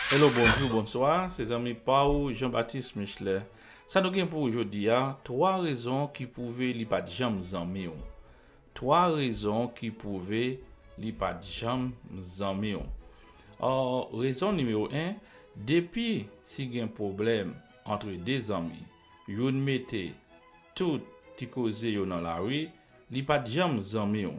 Hello bonjou bonswa se zanmi pa ou Jean Baptiste Michelet sa nou gen pou ou jodi a 3 rezon ki pwouve li pat janm zanmi w 3 rezon ki pwouve li pat janm zanmi w aww rezon nimewo 1 depi si gen pwoblèm antre 2 zanmi youn mete tout ti koze yo nan lari li pat janm zanmi w.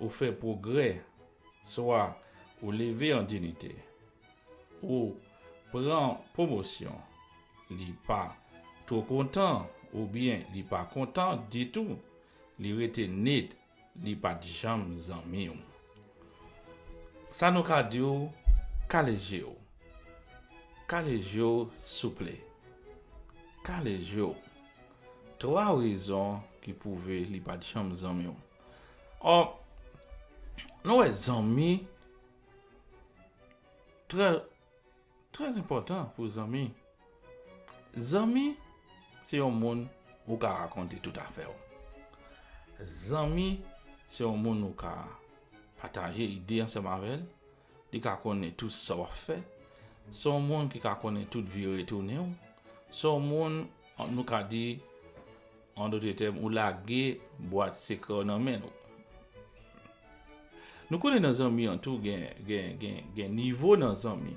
Ou fè pwogrè, swa ou leve an dinite, ou pran pwomosyon, li pa two kontan oubyen li pa kontan ditou, li rete nit, li pa t janm zanmi w. Sa nou ka di w, kale je w. Kale je w souple. Kale je w. Twa rezon ki pwouve li pa t janm zanmi w. Or, nou wè zanmi trè, trè enpòtan pou zanmi. Zanmi se yon moun ou ka rakonte tout afè ou. Zanmi se yon moun ou ka pataje ide ansanm avè l. Li ka konnen tout sa wap fè. Se yon moun ki ka konnen tout vire tounen w. Se yon moun nou ka di an dote tèm ou lage bwat sekrè w nan men l. Nou konnen nan zanmi an tou gen gen gen gen nivo nan zanmi.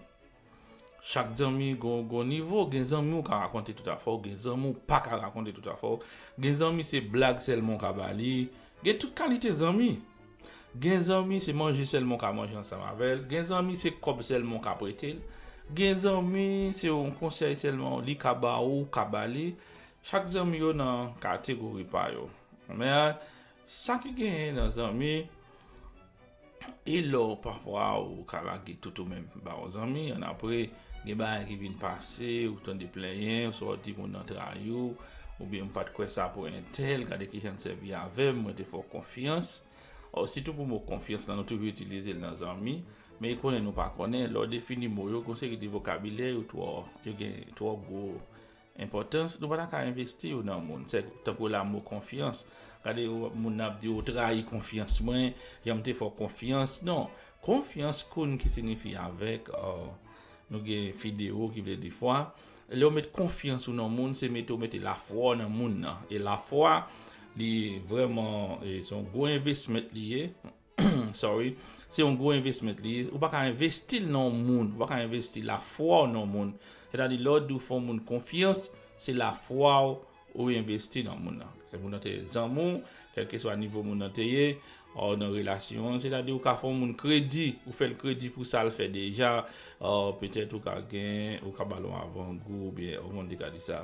Chak zanmi gon nivo, gen zanmi ou ka rakonte tout afè w, gen zanmi ou pa ka rakonte tout afè w, gen zanmi se blag sèlman ou ka ba li, gen tout kalite zanmi, gen zanmi se manje sèlman ou ka manje ansanm avè l, gen zanmi se kòb sèlman ou ka prete l, gen zanmi se yon konsèy sèlman li ka ba ou, ou ka ba li, chak zanmi yo nan kategori pa yo. Sa ki genyen nan zanmi e lè w pafwa ou ka lage tout ou menm ba yon zanmi annapre gen bagay ki vin pase ou tande plenyen oswa ou di moun nan trayi w oubyen m pa t kwè sa pou entèl gade kijan l sèvi avè m mwen te fè w konfyans o sitou pou mo konfyans lan nou toujou itilize l nan zanmi men e konnen nou pa konnen lè w defini mo yo gen yon seri de vokabilè yo twò yo gen twò gwo Enpòtans, Nou pa ta ka envesti yo nan moun. Se tankou lamo konfyans. Gade moun nan ap di ou trayi konfyans mwen, jan m te fè w konfyans. Non, konfyans konn ki sinifi avèk, nou gen fideo ki vle di fwa. Lè ou met konfyans ou nan moun, se mete ou mete lafwa w nan moun nan. E lafwa, li vrèman, se yon gwo envesment li ye. sorry, se yon gwo investment li ye, ou pa ka investi l nan yon moun, ou pa ka investi lafwa w nan yon moun, sètadi lè w di w fè yon moun konfyans, se lafwa w ou envesti nan moun nan, kèk moun nan te zanmi w, kèlkeswa nivo moun nan te ye, ou nan relasyon an, sètadi ou ka fè yon moun kredi, ou fè l kredi pou sa l fè deja, petèt ou ka gen, ou ka ba l yon avangou, oubyen, kòman m te ka di sa?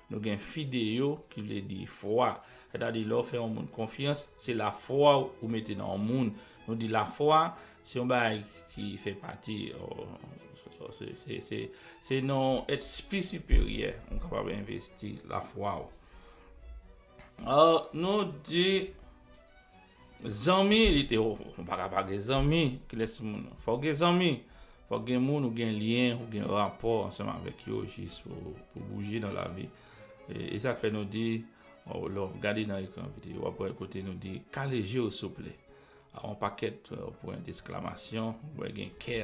Nou gen fideo ki vle di fwa. Sètadi lè w fè yon moun konfyans, se lafwa w ou mete nan yon moun. Nou di lafwa, se yon bagay ki fè pati, se nan yon èt pi siperyè ou kapab envesti lafwa w. Nou di Zanmi li te ou pa ka pa gen zanmi kilès moun fò w gen zanmi fò w gen moun ou gen lyen ou gen rapò ansanm avèk yo jis pou ou bouje nan lavi e sa k fè nou di lè w gade nan ekran videyo w ap wè kote nou di kale je w souple a on pakèt pwen desklamation wè gen kè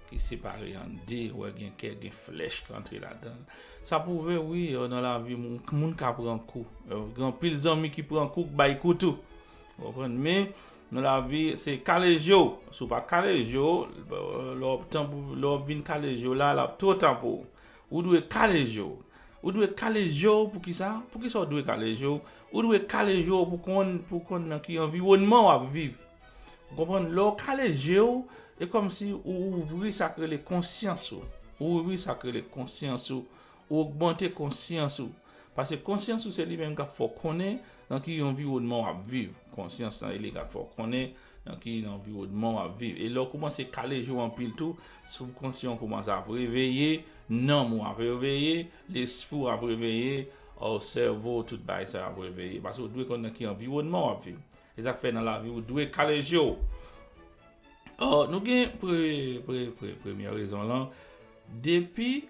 ki separe an 2 wè gen kè gen flèch ki antre ladanl sa pwouve wi nan lavi moun ka pran kou gen anpil zanmi ki pran kou k bay kou tou ou konprann men nan lavi se kale jew si w pa kale jew lè wap vin kale jew la lap two ta pou ou ou dwe kale jew ou dwe kale jew poukisa poukisa w dwe kale jew ou dwe kale jew pou konn nan ki anviwònman wap viv. Ou konprann? Lè ou kale je ou, e kòmsi ou ouvri sa k rele konsyans ou. Ou ouvri sa k rele konsyans ou. Ou ogmante konsyans ou. Pase konsyans ou se li menm k ap fè ou konnen nan ki anviwònman w ap viv. Konsyans lan e li k ap fè ou konnen nan ki anviwònman w ap viv. E lè ou koumanse kale je ou anpil tou, sibkonsyan ou koumanse ap reveye, nanm ou ap reveye, lespri ou ap reveye, sèvo ou tout bagay sa yo ap reveye. Pase ou dwe konnen nan ki anviwònman w ap viv. Se sak fè nan lavi ou dwe kale jew. Or nou gen pre pre pre premyè rezon lan depi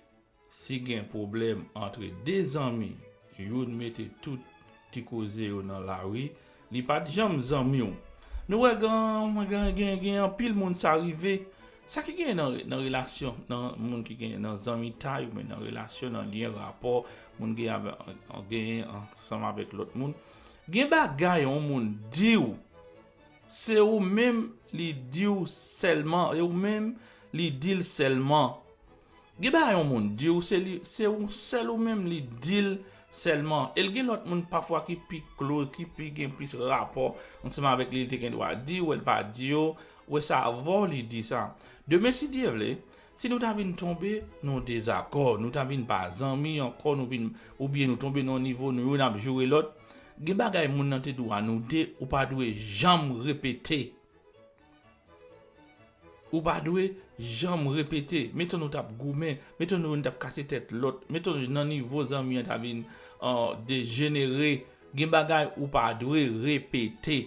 si gen pwoblèm antre 2 zanmi youn mete tout ti koze yo nan lari li pat janm zanmiw nou wè gen gen gen anpil moun sa rive sa ki gen nan relasyon nan moun ki gen nan zanmitay ou byen nan relasyon nan lyen rapò moun gen avè gen ansanm avèk lòt moun. Gen bagay on moun diw se ou menm li diw sèlman e ou menm li dil sèlman gen bagay on moun diw se li se ou sèl ou menm li dil sèlman el gen lòt moun pafwa ki pi klo ki pi gen plis rapò ansanm avèk li li te gen dwa di ou el pa di yo ou wè sa avèw li di sa demen si Dye vle Si nou ta vin tonbe nan yon dezakò, nou ta vin pa zanmi ankò, nou vin, oubyen nou tonbe nan yon nivo nou youn ap joure lòt, gen bagay moun nan te di w a nou de, ou pa dwe janm repete. Ou pa dwe janm repete. Meton nou t ap goumen, meton nou youn t ap kase tèt lòt, meton nan nivo zanmi an ta vin dejenere, gen bagay ou pa dwe repete.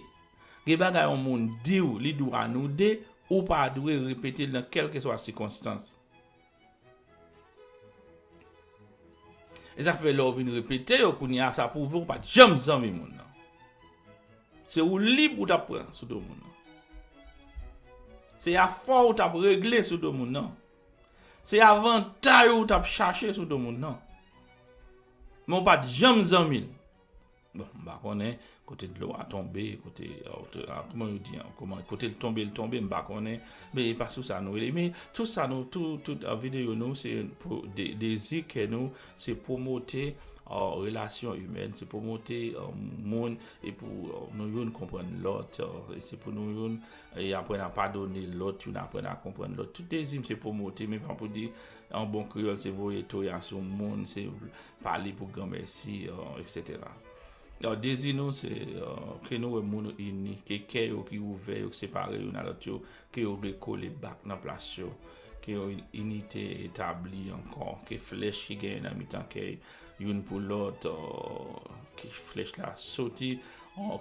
Gen bagay yon moun di w li dou a nou de, ou pa dwe repete l nan kèlkeswa sikonstans. E sa k fè lè w vin repete yo kounye a sa pwouve w pa t janm zanmi moun nan. Se woulib ou t ap pran sou do moun nan. Se afè ou t ap regle sou do moun nan. Se avantay ou t ap chache sou do moun nan. Men w pa t janm zanmi l. Bon, m pa konnen kote dlo a tonbe, kote, kouman yo di an, kouman, kote l tonbe, l tonbe, m pa konnen. Men e pa sou sa nou rele. Men tout sa nou, tout, tout videyo nou se pou dezi kè nou, se pwomote relasyon imèn, se pwomote moun e pou nou youn konprann lòt, e se pou nou youn aprann a padone lòt, youn aprann a konprann lòt. Tout dezi m se pwomote, men pa pou di An bon kreyòl se voye toya sou moun, se pale pou gran mèsi, eksetera. Dezi nou se ke nou wè moun yo ini, ke kè yo ki ouvè, yo ki separe youn a lòt yo, ke yo rekole bak nan plas yo, ke yon inite etabli ankò, ke flèch ki genyen nan mitan kè youn pou lòt, ke flèch la soti,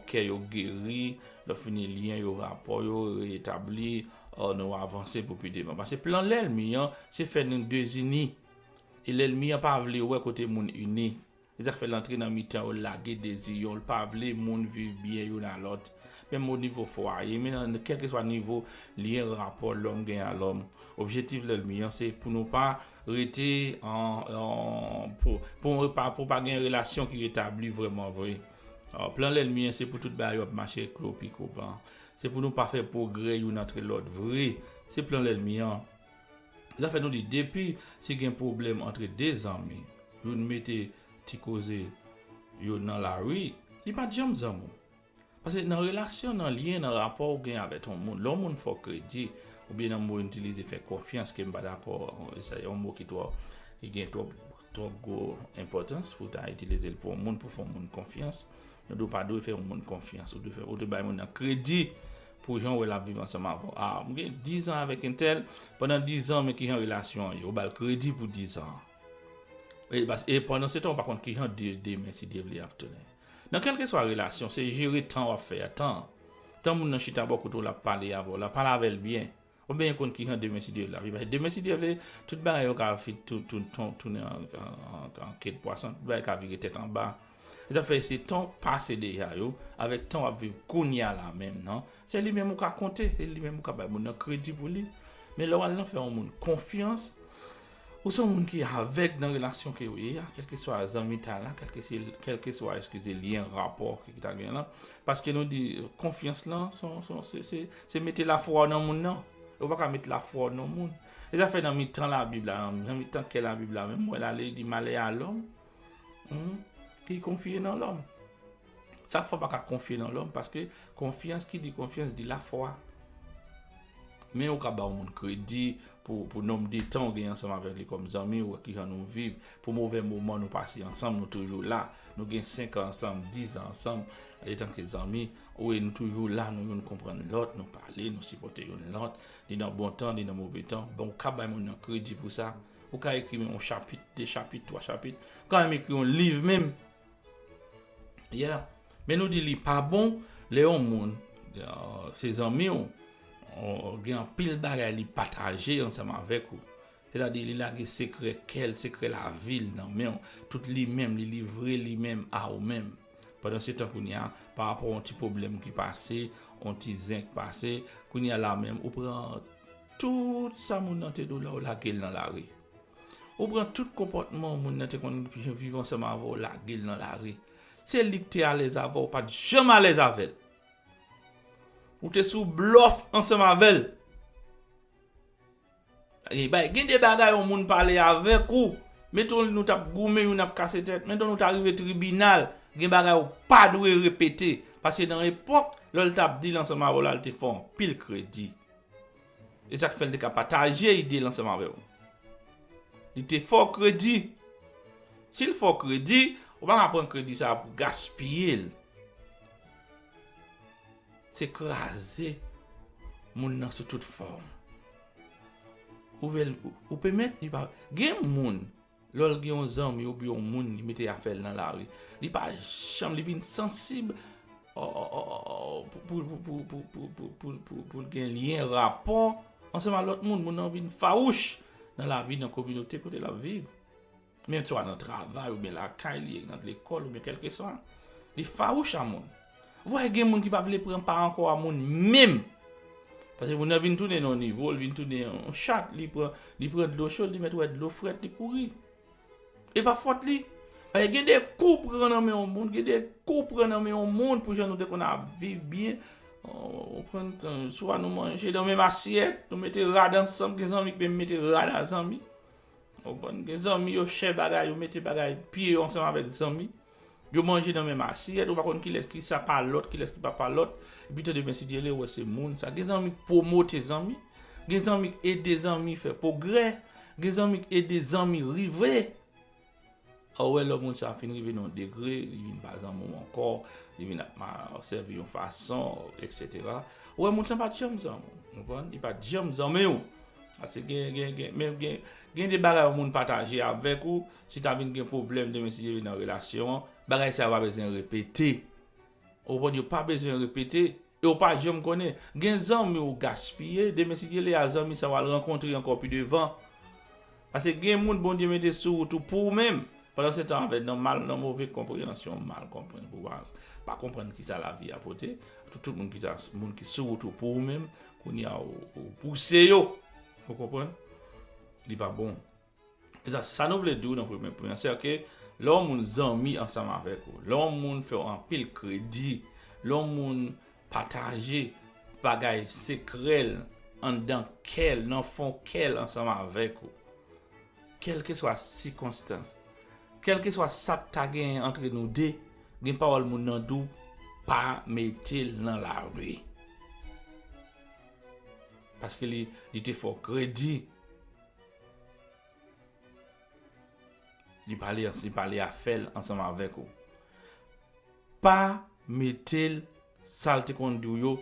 kè yo geri, lè fini lyen yo, rapò yo reetabli. O nou avanse pou pi devan. Pase plan lèlmi an se fè nou dezini. E lèlmi an pa vle wè kote moun ini. Se sa k fè l antre nan mitan yo, l lage deziyon, l pa vle moun viv byen youn a lòt. Menm o nivo fwaye, menm nan kèlkeswa nivo lyen rapò lòm gen a lòm. Objektif lèlmi an se pou nou pa rete an, pou nou pa, pou pa gen relasyon ki retabli vrèmanvre. Plan lèlmi an se pou tout bagay yo ap mache klopiko ban. Se pou nou pa fè pwogrè youn antre lòt vre. Se plan lènmi an. Zafè nou di depi si gen pwoblèm antre de zanmi, youn mete ti koze yo nan lari, li pa t janm zanmi. Pase nan relasyon, nan lyen, nan rapò ou gen avèt yon moun, lè yon moun fè w kredi, oubyen nan mo youn itilize fè konfyans ke m pa dakò, sa se yon mo ki twò, ki gen twòp, twòp gwo enpòtans pou w ta itilize l pou yon moun, pou w fè yon moun konfyans. Nou di w pa dwe fè yon moun konfyans, ou dwe bay moun nan kredi pou jan ou wè l ap viv ansanm avè w. A, m gen dizan avèk entèl, pandan dizan men kijan relasyon an ye. Ou ba l kredi pou dizan an. E pandansetan ou pa konn kijan demen si Dye vle ap tounen. Nan kèlkeswa relasyon, se jere tan w ap fè a. Tan moun nan chita bò kote w l ap pale avè w la, pale avè l byen. Ou byen konn kijan demen si Dye vle ap ye pase demen si Dye vle tout bagay yo ka tounen an ke de pwason tout bagay ka vire tèt anba se sa fè se tan w pase deja yo avèk tan w ap viv kounya la menm nan se li menm ou ka konte se li menm ou ka bay moun nan kredi pou li men lè w al nan fè yon moun konfyans Ou son moun ki avèg nan relasyon ke ou ye a, kèlkeswa zanmitay la, kèlkeswa eskize lyen rapò ke ki ta gen la, paske nou di konfyans lan son, son, se, se, se mete lafwa ou nan moun nan, e ou pa ka mete lafwa ou nan moun. E zafè nan mitan labib la, nan mitan kè labib la menm, wè la li di malè a lòm, ki konfye nan lòm. Sa fwa pa ka konfye nan lòm paske konfyans ki di konfyans di lafwa. Men ou ka ba yon moun kredi pou nonm de tan ou gen ansanm avèk li kòm zanmi, ou wè ki jan nou viv, pou movè moman nou pase ansanm, nou toujou la. Nou gen 5 an ansanm, 10 an ansanm, etanke zanmi, ou wè nou toujou la, nou youn konprann lòt, nou pale, nou sipòte youn lòt, ni nan bon tan, ni nan move tan. Bon, ou ka bay moun nan kredi pou sa. Ou ka ekri menm yon chapit, 2 chapit, 3 chapit. Ou ka menm ekri yon liv menm. Yeah. Men nou di li pa bon lè yon moun se zanmi w, gen anpil bagay li pataje ansanm avèk ou. Se ta di li lage sekrè kè l, sekrè lavi l nan men w. Tout li menm, li livre li menm a ou menm. Pandan se tan kounye a, pa rapò yon ti pwoblèm ki pase, yon ti zen ki pase, kounye a la menm ou pran tout sa moun nan te di w la ou lage l nan lari. Ou pran tout konpòtman moun nan te konn viv ansanm avè w lage l nan lari. Se li k te alèz avè w, ou pa t janm alèz avè l. Ou te sou blòf ansanm avè l. Gen de bagay yon moun pale avèk ou, meton nou t ap goumen youn ap kase tèt, meton nou ta rive tribinal, gen bagay ou pa dwe repete. Paske nan epòk, lè l t ap di l ansanm avè w la, l te fè w anpil kredi. E sa k fè l te ka pataje ide l ansanm avè w. Li te fè w kredi. Si l fè w kredi, ou pa ka pran kredi sa a pou w gaspiye l. Se kraze moun nan sou tout fòm. Ou pèmèt li pa. Gen moun. Lè l gen yon zanmi oubyen yon moun li mete afè l nan lari, li pa janm, li vin sansib pou l gen lyen, rapò ansanm ak lòt moun. Moun nan vin fawouch nan lavi, nan kominote kote l ap viv. Men swa nan travay oubyen lakay li, nan lekòl oubyen kèlkeswa. Li fawouch a moun. Wè gen moun ki pa vle pran pa ankò a moun menm. Pase moun nan vin tounen nan yon nivo, li vin tounen yon chat, li pran, li pran dlo cho, li mèt wè dlo frèt, li kouri. E pa fòt li. Pase gen de kou w pran nan men yon moun, gen de kou w pran nan men yon moun pou jan nou te konn ap viv byen, ou pran tan, swa nou manje nan menm asyèt, nou mete rad ansanm, gen zanmi ki menm mete rad a zanmi. Ou konprann? Gen zanmi yo chè bagay, yo mete bagay, pye yo ansanm avèk zanmi. Yo manje nan menm asyèt, ou pa konn kilès ki sa pa lòt, kilès ki pa pa lòt. Epi tande men Sidyele wè se moun sa. Gen zanmi k pwomote zanmi, gen zanmi k ede zanmi fè pwogrè, gen zanmi k ede zanmi rive. Ou wè lò moun sa fin rive nan yon degre, li vin pa zanmi w ankò, li vin ap mal sèvi yon fason, eksetera. Ou wè moun sa pa t janm zanmi w, ou konprann? Li pa t janm zanmi w. Pase gen, gen, gen, men gen, gen de bagay yon moun pataje avèk ou. Si ta vin gen pwoblèm demen si yo nan relasyon an, bagay sa yo pa bezwen repete. Ou konprann yo pa bezwen repete e ou pa janm konnen. Gen zanmi ou gaspiye, demen si Dye le a zanmi sa ou al rankontre ankò pi devan. Pase gen moun Bondye mete sou wout ou pou ou menm. Pandan se tan avè nan mal nan move konpreyansyon mal konprann pou mal pa konprann ki sa lavi a pote. Tout moun ki ta moun ki sou wout ou pou ou menm, kounye a ou pouse yo. Ou konprann? Li pa bon. Deja, sa nou vle di nan premye pwen an, se ke lè yon moun zanmi ansanm avèk ou, lè yon moun fè w anpil kredi, lè yon moun pataje bagay sekrè l, anndan kè l, nan fon kè l ansanm avèk ou, kèlkeswa sikonstans, kèlkeswa sa k ta genyen antre nou de, gen pawòl moun nan di w, pa mete l nan lari. Paske li te fè w kredi. Li pale an li pale a fè l ansanm avèk ou. Pa mete l sa l te konn di w yo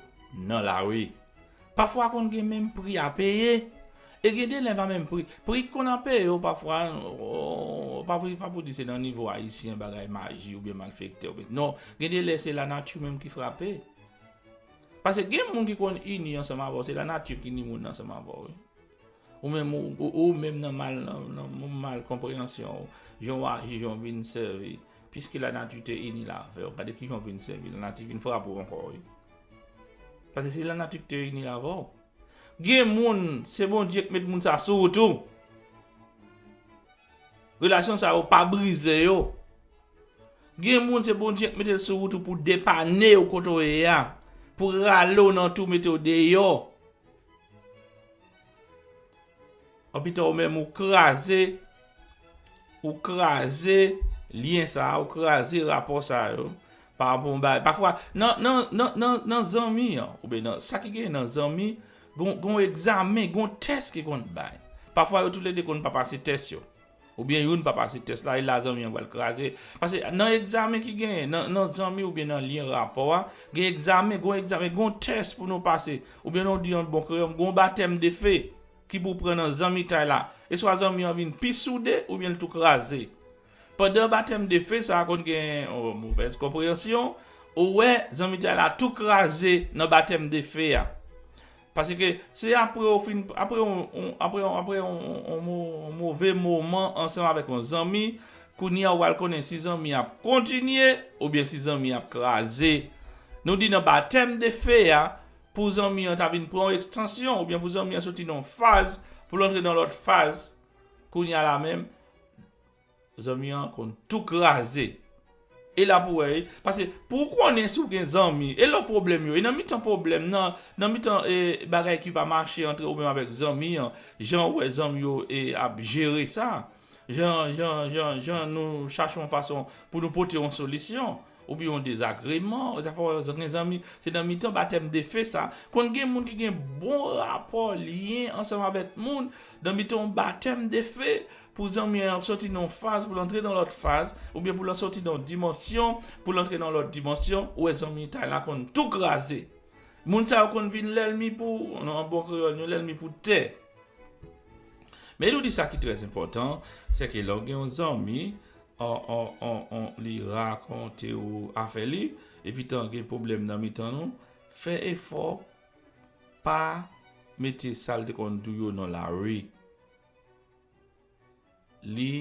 nan lari. Pafwa konn gen menm pri a peye. E gen de lè pa menm pri. Pri ki konn ap peye yo pafwa ooo pa pou pa pou di se nan nivo ayisyen bagay maji oubyen malfektè oubyen non. Gen de lè se lanati menm ki frape. Pase gen moun ki konn ini ansanm avè w se lanati ki ini moun nan ansanm avè w wi. Ou menm ou menm nan mal nan moun mal konpreyansyon ou, jan w aji, jan w vin sèvi, piske lanati te ini l avè w, gade kijan w vin sèvi, lanati vin frape w ankò wi. Paske se lanati ki te ini l avè w. Gen moun, se Bondye ki met moun sa sou ou tou. Relasyon sa yo pa brize yo. Gen moun se Bondye ki mete l sou ou tou pou depanne w kote w ye a, pou rale w nan tou mete w deyò. An pito ou menm ou kraze, ou kraze lyen sa a, ou kraze rapò sa yo, pa rapò yon bagay, pa fwa, nan, nan, nan, nan, nan zanmi an, ou byen nan, sa ki genyen nan zanmi, gon, gon egzamen, gon tès ki konn bay. Pa fwa yo tou le de konn pa pase tès yo. Ou byen youn pa pase tès la e la zanmi an pral kraze. Pase nan egzamen ki genyen, nan zanmi ou byen nan lyen rapò a, gen egzamen, gon egzamen, gon tès pou nou pase. Ou byen nou di an bon kreyòm, gon batèm de fe ki pou pran nan zanmitay la. E swa zanmi an vin pi soude ou byen l tou kraze. Pandan batèm de fe sa a konn gen movèz konpreyansyon, ou wè zanmitay la tou kraze nan batèm de fe a. Paske se apre ou fin, apre yon, apre yon, apre yon, yon move moman ansanm avèk yon zanmi, kounye a ou pral konnen si zanmi a ap kontinye oubyen si zanmi a ap kraze. Nou di nan batèm de fe a, pou zanmi an ta vin pran yon ekstansyon oubyen pou zanmi an soti nan yon faz pou l antre nan lòt faz, kounye a la menm, Zanmi an konn tou kraze. E la pou wè wi. Pase pou ou konnen si ou gen zanmi, e lò pwoblèm yo, e nan mitan pwoblèm nan, nan mitan e bagay ki pa mache antre ou menm avèk zanmi an, jan ou wè zanmi yo e ap jere sa, jan, jan, jan, jan nou chache yon fason pou nou pote yon solisyon. Oubyen yon dezagreman, zafè w ak yon zanmi, se nan mitan batèm defen sa. Konn gen moun ki gen bon rapò, lyen ansanm avèk moun, nan mitan yon batèm defen, pou zanmi an ap sòti nan yon faz pou l antre nan lòt faz, oubyen pou l sòti nan yon dimansyon pou l antre nan lòt dimansyon, ou wè zanmitay la konn tou kraze. Moun sa yo konn vin lènmi pou, an bon kreyòl, yon lènmi pou tè. Men nou di sa ki trèzenpòtan, sèke lè w gen yon zanmi, li rakonte ou afè li epi tan gen pwoblèm nan mitan nou fè efò pa mete sal te konn di w yo nan lari li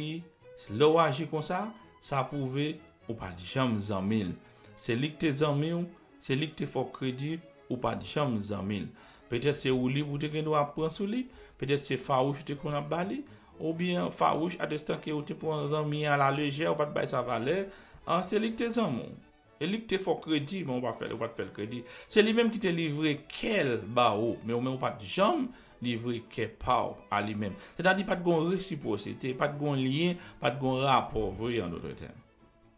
lè w aji konsa sa pwouve ou pat janm zanmi l se li k te zanmi w se li k te fè w kredi. Ou pa t janm zanmi l. Petèt se woulib ou te gen dwa ap pran sou li, petèt se fawouch ou te konn ap ba li, oubyen fawouch atestan ke ou te pran zanmi an alalejè, ou pa t bay sa valè. An, se li ki te zanmi w. E li ki te fè w kredi, men ou pa fè, ou pa t fè l kredi. Se li menm ki te livre kè l ba ou, men ou menm ou pa t janm livre kè pa w a li menm. Sètadi pa t gen yon resipwosite, pa t gen yon lyen, pa t gen yon rapò vre an dotre tèm.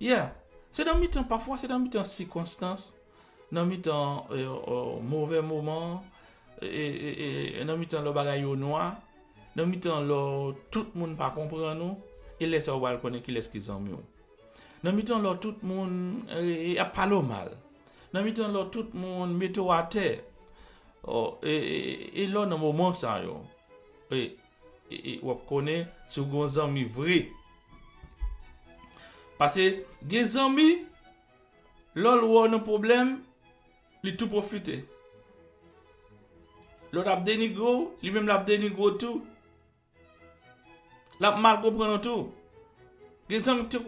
Yeah! Se nan mitan, pafwa se nan mitan sikonstans, nan mitan movè moman, nan mitan lò bagay yo nwa, nan mitan lò tout moun pa konprann ou, e lè sa ou pral konnen kilès ki zanmi w. Nan mitan lò tout moun ap pale w mal, nan mitan lò tout moun mete w atè, e lò nan moman sa yo. Wap konnen si w gen yon zanmi vre. Pase gen zanmi lè l wè w nan pwoblèm li tou pwofite. Lè w ap denigre w li menm lap denigre w tou. Lap mal konprann w tou. Gen zanmi ki te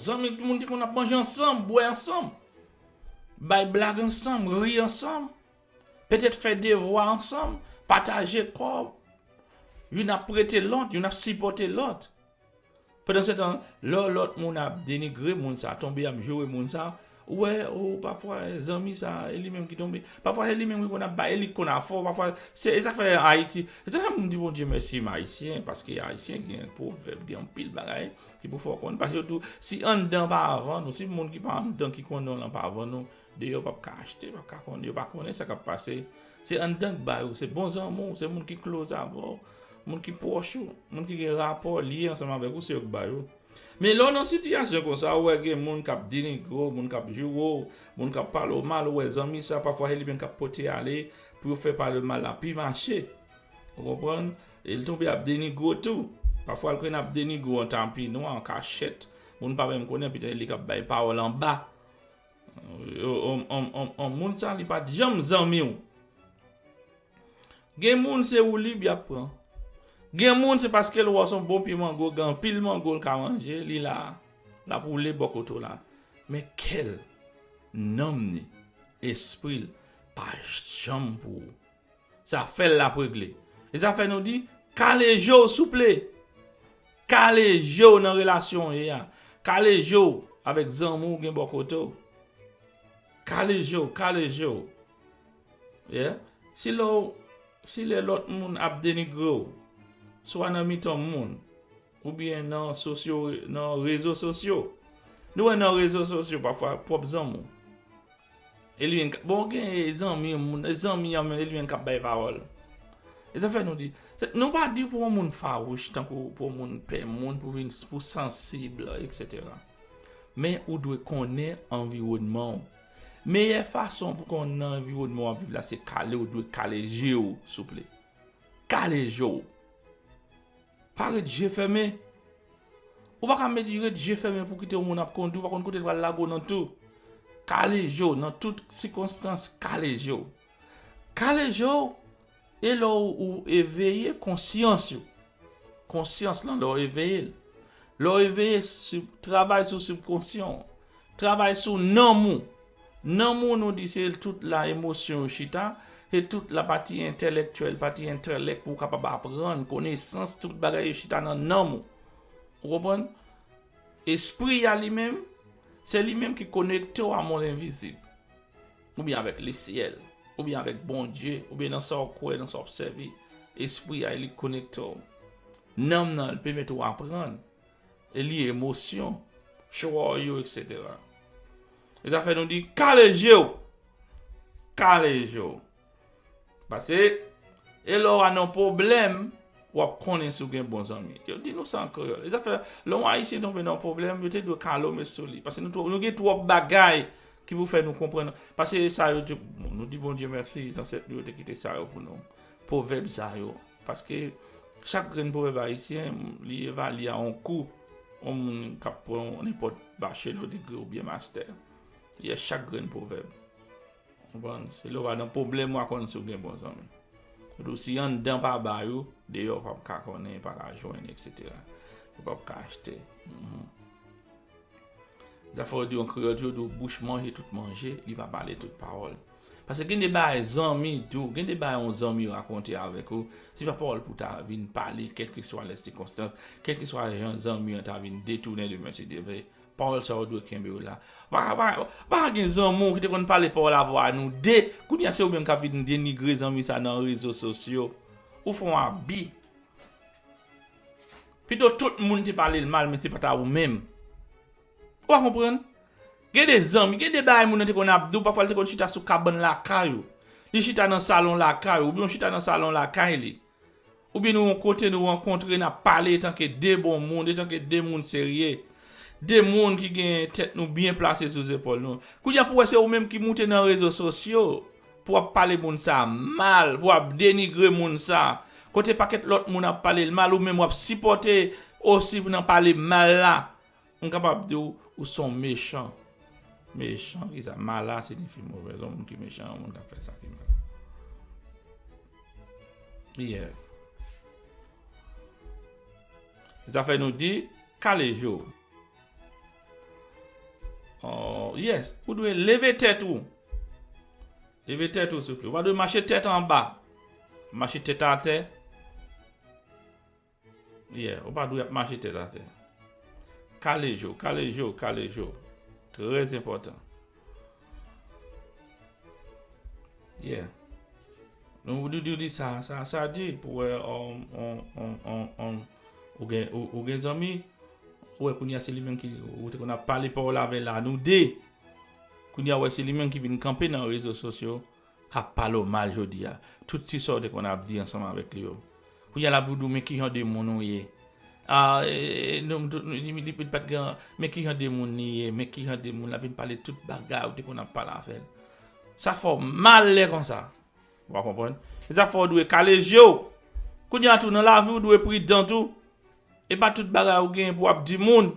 zanmi moun ki konn ap manje ansanm, bwè ansanm, bay blag ansanm, ri ansanm. Petèt fè devwa ansanm, pataje kòb, youn ap prete lòt, youn ap sipòte lòt. Pandansetan, lò lòt moun ap denigre moun sa, tonbe ap joure moun sa, ou wè, o, pafwa zanmi sa, e li menm ki tonbe, pafwa se li menm ki konn ap bay, e li ki konn ap fò, pafwa, se sa k fè Ayiti, se sa k fè m di Bondye mèsi m Ayisyen, paske Ayisyen gen pwovèb, gen anpil bagay ki pou fè w konnen, paske yo di w, si anndan an pa vann ou, si moun ki pa anndan ki konnen w lan pa vann ou, Deyò pap ka achte, pap ka konnen, yo pa konnen sa kap pase. Se anndan k ba yo, se bon zanmi w, se moun ki close avè w, moun ki pwòch ou, moun ki gen rapò, lyen ansanm avèk ou, se yo k ba yo. Men lè w nan sitiyasyon konsa, ou wè gen moun kap denigre w, moun kap joure w, moun kap pale w mal, ou wè zanmi sa pafwa se li menm kap pote ale pou yo fè pale w mal la pi mache. Ou konprann? E l tonbe ap denigre w tou. Pafwa l konn ap denigre w an tapi nwa, an kachèt, moun pa menm konnen, petèt se li kap bay pawòl anba. Yon moun sa li pat janm zanmiw. Gen moun se woulib yap pran. Gen moun se paske l wè w son bon pye mango gen anpil mango l ka manje li la lap woule bò kote w la. Men kè l, nanm ni, espri l pa janm pou ou. Sa fèl lap regle. E sa fè nou di kale je w souple. Kale je w nan relasyon w ye a. Kale je w avèk zanmi w gen bò kote w. Kale je w, kale je w. Yeah. Si lè w, si lè lòt moun ap denigre w, swa nan mitan moun, Oubyen nan sosyo, nan rezo sosyo. Nou wè nan rezo sosyo pafwa pwòp zanmi w. E li menm k, bon gen zanmi, moun, zanmi an menm e li menm k ap bay pawòl. E sa fè nou di, se, nou pa di pou yon moun fawouch tankou pou yon moun pè moun, pou vin, pou sansib eksetera. Men ou dwe konnen anviwònman w. Meyè fason pou konn nan anviwònman w ap viv la se kale ou dwe kale je w souple. Kale je w. Pa ret je fèmen. Ou pa ka met ret je fèmen pou kite yon moun ap kondi, ou pa konn kote l pral lage w nan tou. Kale je w nan tout sikonstans, kale je w. Kale je w e lè ou eveye konsyans ou. Konsyans lan lè w eveye l. Lè w eveye, travay sou sibkonsyon ou. Travay sou nanm ou. Nan mo nou di se tout la emosyon yo chita, se tout la pati entèlèktyèl, pati entèlèk pou ou kapab aprann, konesans, tout bagay yo chita nan nanm ou. Ou konprann? Espri a li menm, se li menm ki konekte w a mond envizib. Oubyen avèk lesyèl, oubyen avèk Bondye, oubyen nan sa w kwè, nan sa w ap sèvi. Espri a li konekte w. Nanm nan li pèmèt ou aprann, e li emosyon, chwa w yo etc. E sa fè nou di kale je w! Kale je w! Pase e lè w a nan pwoblèm w ap konnen si w gen bon zanmi. Yo di nou sa an kreyòl. E sa fè lè yon Ayisyen tonbe nan pwoblèm yo te dwe kale w met sou li. Pase nou gen twòp bagay ki pou fè nou konprann. Pase sa yo te, nou di Bondye mèsi zansèt nou yo te kite sa yo pou nou. Pwovèb sa yo. Paske chak grenn pwovèb ayisyen li evalye a yon kou yon moun k ap pran yon nenpòt bachelo, degre oubyen mastè. Yè chak grenn pwovèb. Ou konprann? Se lè w va nan pwoblèm w a konn si w gen bon zanmi. Yo di w si anndan pa bay ou, deyò ou pap ka konnen, pa ka jwenn eksetera. Ou pap ka achte. Zafè yo di an kreyòl toujou di w bouch manje tout manje, li pa pale tout pawòl. Paske gen de bagay zanmi tou, gen de bagay yon zanmi rakonte avèk ou, se pa pawòl pou ta vin pale kèlkeswa lè sikonstans, kèlkeswa jan zanmi an ta vin detounen de mèsi de ve, pawòl sa yo dwe kenbe w la. Ou pa ka gen zanmi w ki te konn pale pawòl avwa nou de, kounye a se ou menm k ap vin denigre zanmi sa nan rezo sosyo. Ou fè yon abi. Pito tout moun te pale l mal men se pa ta ou menm. Ou pa konprann? Gen de zanmi, gen de bagay moun nan te konn ap di w, pafwa li te konn chita sou kabann lakay ou, li chita nan salon lakay ou, oubyen ou chita nan salon lakay li, oubyen nou yon kote nou rankontre n ap pale etanke de bon moun, etanke de moun serye, de moun ki gen tèt nou byen plase sou zepòl nou. Kounye a pou wè se ou menm ki moute nan rezo sosyo pou w ap pale moun sa a mal, pou w ap denigre moun sa a, kote pakèt lòt moun ap pale l mal ou menm w ap sipòte osi nan pale mal la, M kapab di w ou se yon mechan. Mechan ki sa? Mala sinifi movèz. Yon moun ki mechan, yon moun k ap fè sa ki mal. Yè. Zafè nou di, kale je w. Yès, ou dwe leve tèt ou. Leve tèt ou souple. Ou pa dwe mache tèt anba. Mache tèt atè. Yeah, ou pa dwe ap mache tèt atè. Kale je w, kale je w, kale je w. Trè enpòtan. Yeah. Nou ou di ou di sa, sa, sa di pou wè on, on, on, on, on, ou gen, ou, ou gen zanmi, ou wè kounye a se li menm ki, ou te konn ap pale pa w la vè la nou de. Kounye a ou wè se li menm ki vin kanpe nan rezo sosyo Ap pale w mal jodi a. Tout ti sa w te konn ap di ansanm avèk li yo. Kounye a l ap vin di w men ki jan de moun ou ye. Men ki jan de moun li ye. Men ki jan de moun. L ap vin pale tout bagay ou te konn ap pale avè l. Sa fè w mal lè konsa. Ou pa konprann? Se sa k fè w dwe kale je w. Kounye a tou nan lavi w dwe pridan tou. E pa tout bagay ou genyen pou w ap di moun.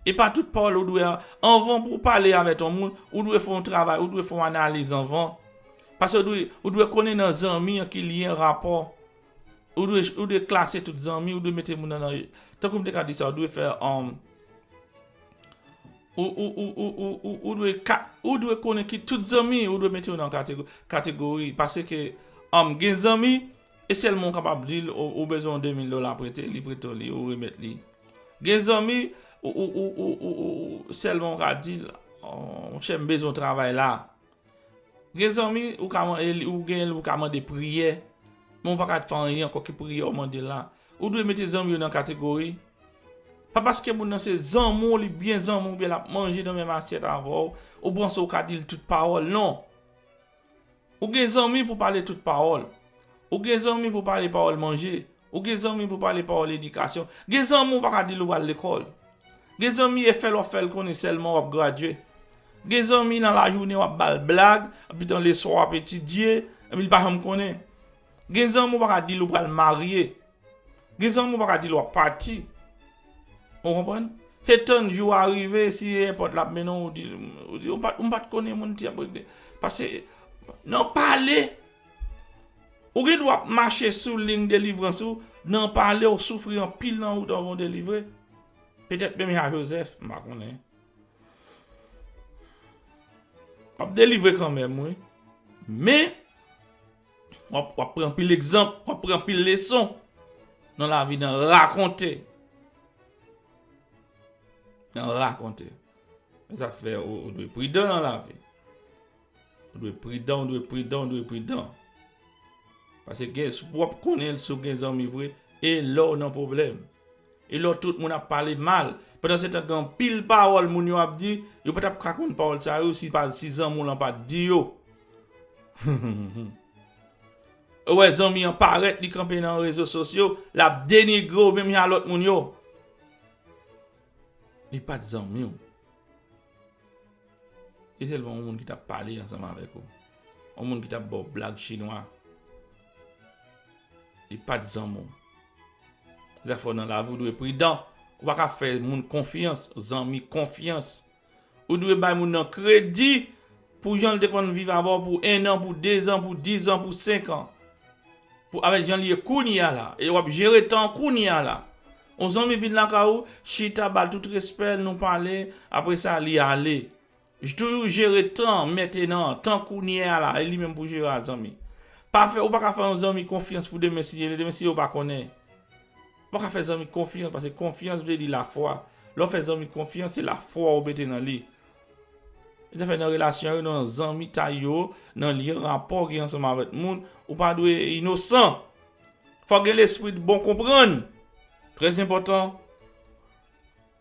Epa tout pawòl ou dwe anvan pou pale avè ton moun ou dwe fon travay ou dwe fon analiz anvan pase ou dwe konnen nan zanmi an ki lyen rapò ou dwe ou dwe klase tout zanmi ou dwe mete moun nan tankou m te ka di sa ou dwe fè an ou ou ou ou ou ou ou ou dwe ka ou dwe konnen ki tout zanmi ou dwe mete yo nan kategori pase ke an gen zanmi E sèlman ou kapab di l ou bezwen yon 2000 dola prete, li prete w li, ou remèt li. Gen zanmi ou sèlman ou ka di l, monchè m bezwen w travay la. Gen zanmi ou ka mande priyè, men ou pa ka fè anyen ankò ki priyè ou mande la. Ou dwe mete zanmi yo nan kategori. Pa paske moun nan se zanmi w, li byen zanmi w, oubyen l ap manje nan menm asyèt avè w, ou panse ou ka di l tout pawòl, non! Ou gen zanmi pou pale tout pawòl. Ou gen zanmi pou pale pawòl manje. Ou gen zanmi pou pale pawòl edikasyon. Gen zanmi ou pa ka di l ou pral lekòl. Gen zanmi e fè l w ap fè l konnen sèlman w ap gradye. Gen zanmi nan lajounen w ap ba l blag, epitou leswa w ap etidye, epi l pa janm konnen. Gen zanmi ou pa ka di l ou pral marye. Gen zanmi ou pa ka di l w ap pati. Ou konprann? Se tann jou a rive, si se èpòt l ap mennen w, ou di l, ou di l, m pa t konnen moun ti ap regle. Pase, nan pale, ou gen dwa ap mache sou liy delivrans ou, nan pale ou soufri anpil nan wout anvan ou delivre. Petèt menm jan a Jozèf, m pa konnen. W ap delivre kanmenm wi. Men, Wap wap pran anpil egzanp, wap pran anpil leson nan lavi nan rakonte. Nan rakonte. Se sa k fè ou dwe pridan nan lavi. Ou dwe pridan, ou dwe pridan, ou dwe pridan. Pase gen, si w ap konnen si w gen zanmi vre, e lè w nan pwoblèm. E lò tout moun ap pale mal. Pandansetan gen anpil pawòl moun yo ap di, yo pa t ap ka konn pawòl sa yo si zanmi w lan pa t di yo. Ou wè zanmi an parèt li kanpe nan rezo sosyo, l ap denigre w menm jan a lòt moun yo. Li pa t zanmi w. Se sèlman yon moun ki t ap pale ansanm avèk ou. Yon moun ki t ap ba w blag chinwa. Li pat zanmi w. Zafè w nan lavi w dwe pridan. Ou pa ka fè moun konfyans, zanmi konfyans. Ou dwe bay moun nan kredi pou jan l te konn viv avè w pou ennan, pou dezan, pou dizan, pou senkan. Pou avèk jan li ye kounye a la. E w ap jere tan kounye a la. Yon zanmi vin lakay ou, chita, ba l tout respè l, nou pale, apresa li ale. Jtoujou jere tan mentenan tan kounye a la e li menm pou jere a zanmi pa fè ou paka fè yon zanmi konfyans pou demen si demen si yo pa konnen ou paka fè zanmi konfyans paske konfyans vle di lafwa lè ou fè zanmi konfyans se lafwa ou mete nan li se sa fè nan relasyon yo nan zanmitay yo nan lyen rapò ou gen ansanm avèk moun ou pa dwe inosan fòk gen lespri bon konprann trèzenpòtan.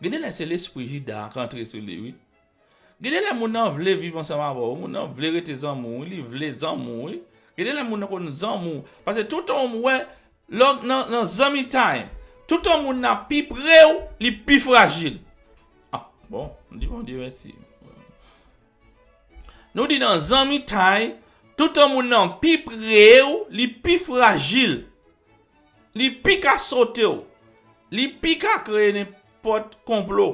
Gen de lè se lespri Jida an k antre sou li wi. Gen de lè moun nan vle viv ansanm avè w, moun nan vle rete zanmi w wi, li vle zanmi w wi. Gen de lè moun nan konn zanmi w, pase toutan w wè lè w nan zanmitay, toutan moun nan ap pi pre w, li pi frajil. Ah bon, m di Bondye mèsi. Nou di nan zanmitay, toutan moun nan pi pre w, li pi frajil. Li pi ka sote w. Li pi ka kreye nenpòt konplo.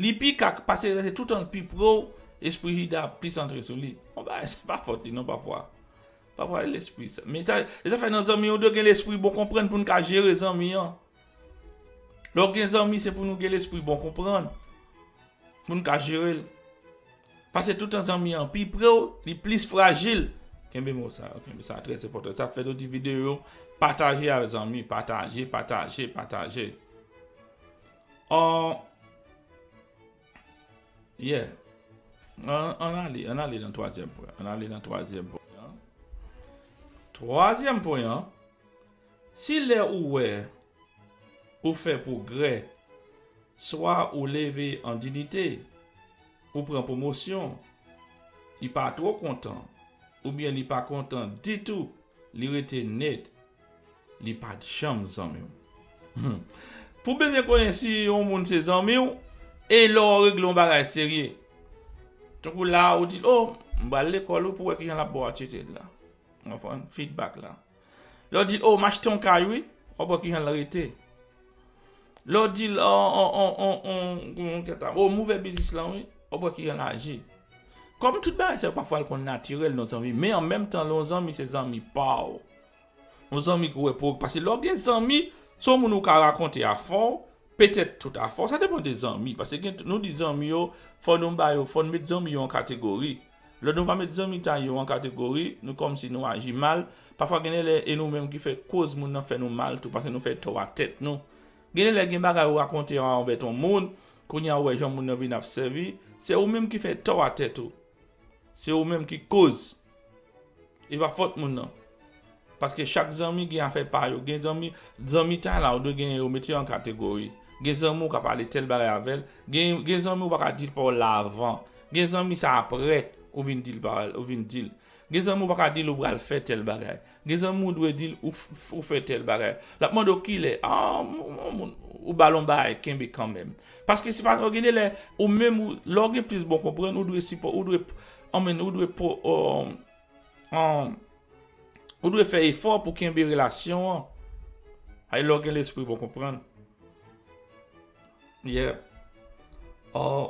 Li pi ka pase se toutan l pi pre w, espri Jida ap plis antre sou li. Bon bagay, se pa fòt li non pafwa. Pafwa se lespri. Men sa, se sa k fè nan zanmi, ou dwe gen lespri bon konprann pou n ka jere zanmi an. Lè w gen zanmi se pou nou gen lespri bon konprann pou n ka jere l. Pase toutan zanmi an pi pre w, li plis frajil. Kenbe mo sa yo, kenbe sa trè enpòtan. Sa fè nou di videyo yo pataje al zanmi, pataje, pataje, pataje. Aww Yeah Ann ale, ann ale nan twazyèm pwen an, ann ale nan twazyèm pwen an. Twazyèm pwen an, si lè ou wè. Ou fè pwogrè. Swa ou leve an dinite, ou pran pwomosyon, li pa twò kontan, oubyen li pa kontan ditou, li rete net, li pa janm zanmi w. Pou byen konnen si yon moun se zanmi w, e lè w regle yon bagay serye. Tankou la ou di l, o, m pral lekòl wi pou wè kijan l ap bo atitid la. Ou konprann? Fidbak la. Lè w di l, o, m achte yon kay wi, w ap wè kijan l rete. Lè w di l, o, o, o, o, o, kouman kèt la, o, m ouvè biznis lan wi, w ap wè kijan l aji. Kòm tout bagay sa yo pafwa l konn natirèl nan zanmi, men an menm tan lè yon zanmi se zanmi pa w, yon zanmi ki wè pwog, pase lè w gen zanmi, se yon moun ou ka rakonte afè w, petèt tout afè w, sa depan de zanmi, pase gen, nou di zanmi yo, fò nou ba yo, fò nou met zanmi yo an kategori. Lè nou pa met zanmitay yo an kategori, nou kòmsi nou aji mal, pafwa gen de lè e nou menm ki fè koz moun nan fè nou mal tou paske nou fè tò a tèt nou. Gen de lè gen bagay ou rakonte an anvè ton moun, kounye a ou wè jan moun nan vin ap sèvi, se ou menm ki fè tò a tèt ou. Se ou menm ki koz. E pa fòt moun nan. Paske chak zanmi gen afè pa yo. Gen zanmi, zanmitay la ou dwe genyen yo mete yo an kategori. Gen zanmi ou ka pale tèl bagay avè l, gen gen zanmi ou pa ka di l pawòl la avan. Gen zanmi sa aprè ou vin di l pawòl, ou vin di l. Gen zanmi ou pa ka di l ou pral fè tèl bagay. Gen zanmi ou dwe di l ou ou fè tèl bagay. L ap mande w kilè, an an moun ou ba l on bagay kenbe kanmenm. Paske se pa tro gen de lè ou menm ou lè w gen plis bon konprann ou dwe sipò ou dwe anmweyy ou dwe po o. Ou dwe fè efò pou kenbe relasyon an. Ay lè w gen lespri bon konprann. Yeah.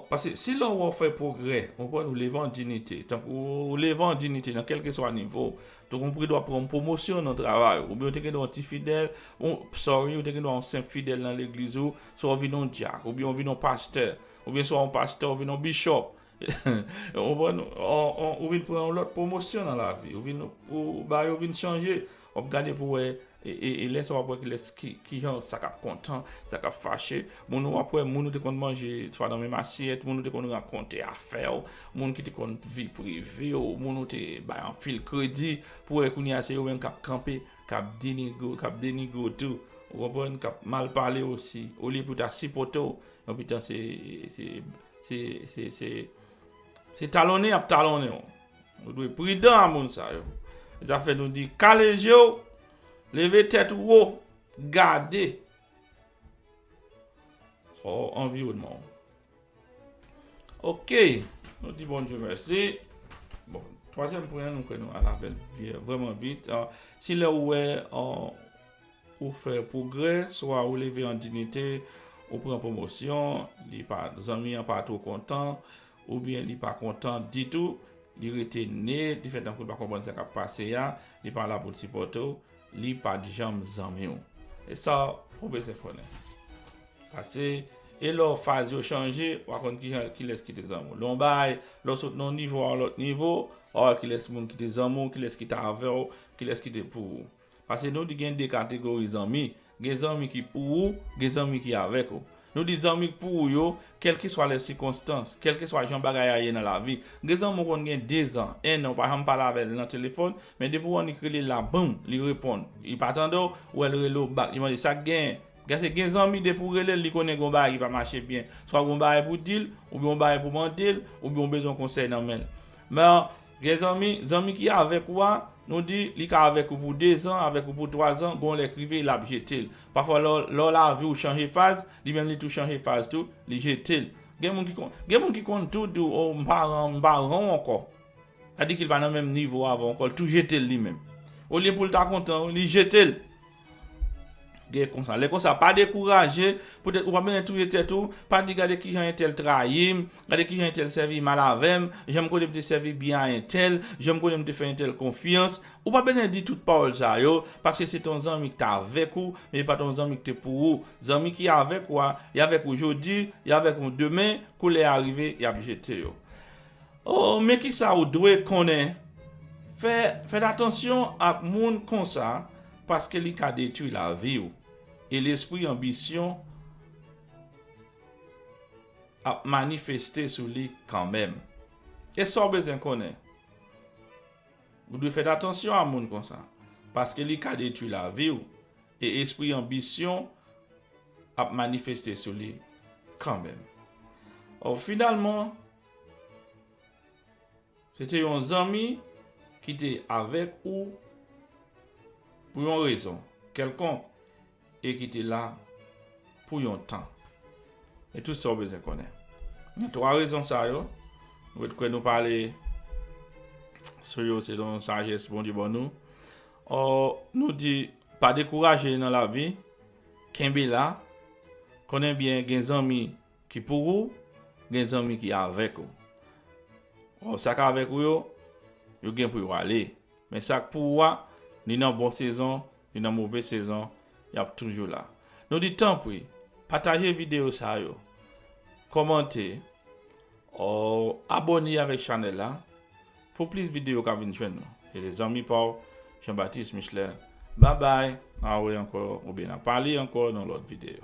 Paske si lè w wè w fè pwogrè, konprann ou leve an dinite. Tankou ou leve an dinite nan kèlkeswa nivo w. Tankou ou gendwa pran yon pwomosyon nan travay ou. Oubyen ou te gendwa yon ti fidèl, sorry, ou te gendwa yon senp fidèl nan legliz ou, si w vin yon dyak, oubyen ou vin yon pastè. Oubyen si w pa yon pastè, ou vin yon bishop. Ou konprann? Ou vin pran yon lòt pwomosyon nan lavi. Ou vin, bagay yo vin chanje. W ap gade pou wè, e lè sa w ap wè ki lès, ki jan, sa k ap kontan, sa k ap fache. Moun ou ap wè, moun ou te konn manje swa nan menm asyèt, moun ou te konn rakonte afè w, moun ki te konn vi prive w, moun ou te bay anpil kredi. Pou wè kounye a se yo menm k ap kanpe, k ap denigre w, k ap denigre w tou. Ou konprann? K ap mal pale w osi. Olye pou ta sipote w, yon pitan se. Se talonnen y ap talonnen w. Nou dwe pridan a moun sa yo. Se sa k fè nou di kale je w, leve tèt ou wo, gade anviwònman w. Ok, nou di Bondye mèsi. Bon, twazyèm pwen an nou kwè nou al avè l vrèman vit. Se lè ou wè. Ou fè pwogrè, swa ou leve an dinite, ou pran pwomosyon, li pa, zanmi an pa two kontan, oubyen li pa kontan ditou, li rete ne, li fè tankou li pa konprann sa k ap pase a, li pa la pou l sipòte w, li pa t janm zanmi w. E sa ou bezwen konnen. Pase, e lò faz yo chanje, w a konn kijan, kilès ki te zanmi w. Lè w bay, lè w sot nan yon nivo a yon lòt nivo, w a wè kilès moun ki te zanmi w, kilès ki te avè w, kilès ki te pou ou. Pase nou di gen 2 kategori zanmi, gen zanmi ki pou ou, gen zanmi ki avèk ou. Nou di zanmi k pou ou yo, kèlkeswa lè sikonstans, kèlkeswa jan bagay a ye nan lavi. Gen zanmi ou konn gen 2 zan, 1 an ou pa janm pale avè l nan telefòn, men depi ou annik rele l la boum, li reponn. Li pa tande w, ou wè l rele w bak, li mande sa k genyen. Pase gen zanmi depi w rele l, li konnen gen yon bagay ki pa mache byen. Swa gen yon bagay pou w di l, oubyen yon bagay pou w mande l, oubyen ou bezwen yon konsèy nan men l. Men, Gen zanmi, zanmi ki avèk ou a, nou di, li ka avèk ou pou dezan, avèk ou pou twazan, gon lè k rive, l ap jete l. Pafwa lò, lò lavi ou chanje faz, li menm li tou chanje faz tou, li jete l. Gen moun ki konn, gen moun ki konn tou di w, o, m pa ran, m pa ran w ankò. Sa di ki l pa nan menm nivo avan w ankò, l tou jete l li menm. Olye pou l ta kontan, li jete l. Gade konsa, lè konsa pa dekouraje, petèt ou pa bezwen touye tèt ou, pa di gade kijan entèl trayim, gade kijan entèl sèvi mal avèm, janm konnen m te sèvi byen a entèl, janm konnen m te fè entèl konfyans, ou pa bezwen di tout pawòl sa yo, paske se te yon zanmi ki te avèk ou, men li pa te yon zanmi ki te pou ou, zanmi ki avèk ou a, y avèk ou jodi, y avèk ou demen, kou lè a rive, y ap jete yo. O Men kisa ou dwe konnen, Fè fèt atansyon ak moun konsa paske li ka detwi lavi w e lespri anbisyon ap manifeste sou li kanmenm. E sa w bezwen konnen, Ou dwe fèt atansyon a moun konsa paske li ka detwi lavi w e espri anbisyon ap manifeste sou li kanmenm. O Finalman. Se te yon zanmi ki te avèk ou pou yon rezon kèlkonk e ki te la pou yon tan. E tout sa ou bezwen konnen. Nan twa rezon sa yo, nou ret kwè nou pale sou yo selon sajès Bondye ban nou. Ò, nou di, pa dekouraje nan lavi, kenbe la, konnen byen gen zanmi Ki pou ou gen zanmi ki avèk ou. Or sa k avèk ou yo, yo gen pou yo ale. Men sa k pou ou a, ni nan bon sezon, ni nan move sezon, y ap toujou la. Nou di tanpri, pataje videyo sa yo, kòmante, or abòne avèk chanèl la. Pou plis video ka vin jwenn nou. E se zanmi pa w Jean Baptiste Michelet babay. Ah wi ankò oubyen na pale ankò nan lòt video.